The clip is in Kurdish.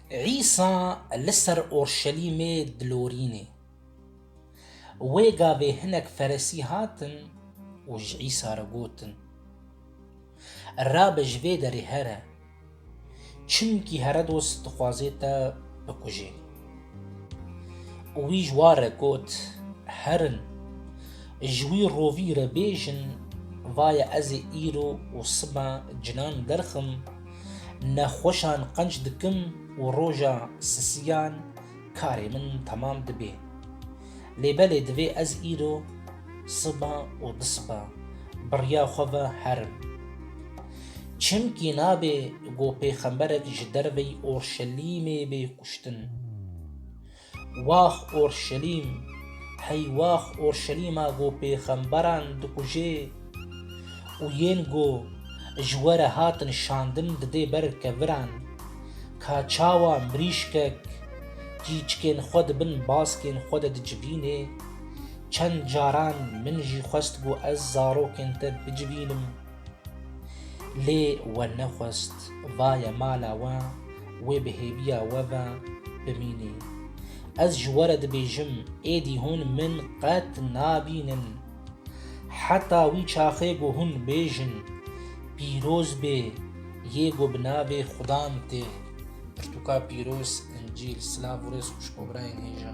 Îsa li ser Urşelîmê dilorîne. Wê gavê hinek Feresî hatin û ji Îsa re gotin, Rabe ji vê derê here, çimkî Heredos dixwaze te bikuje. û wî ji wan re got, Herin, ji wî rovî re bêjin, Vaye ez ê îro û siba cinan derxim, nexweşan qenc dikim û roja sisiyan karê min temam dibê. Lê belê divê ez îro siba û di siba birya xwe ve herim. Çimkî nabê ku pêxemberek ji derveyî Orşelîmê bê kuştin. Wax Orşelîm, hey wax Orşelîma ku pêxemberan dikujê! û yên ku ji we re hatin şandin didê ber keviran, ka çawa mirîşkek cîçikên xwe di bin baskên xwe de dicivînê, çend caran min jî xwest ku ez zarokên te bicivînim, lê we nexwest, vaye mala we, wê bi hêviya we ve bimînê. Ez ji we re dibêjim, êdî hûn min qet nabînin. Heta wî çaxê ku hûn bêjin pîroz bê yê ku bi navê xudan tê pirtûka pîroz Încîl silav û rêz xwişko birayên hêja.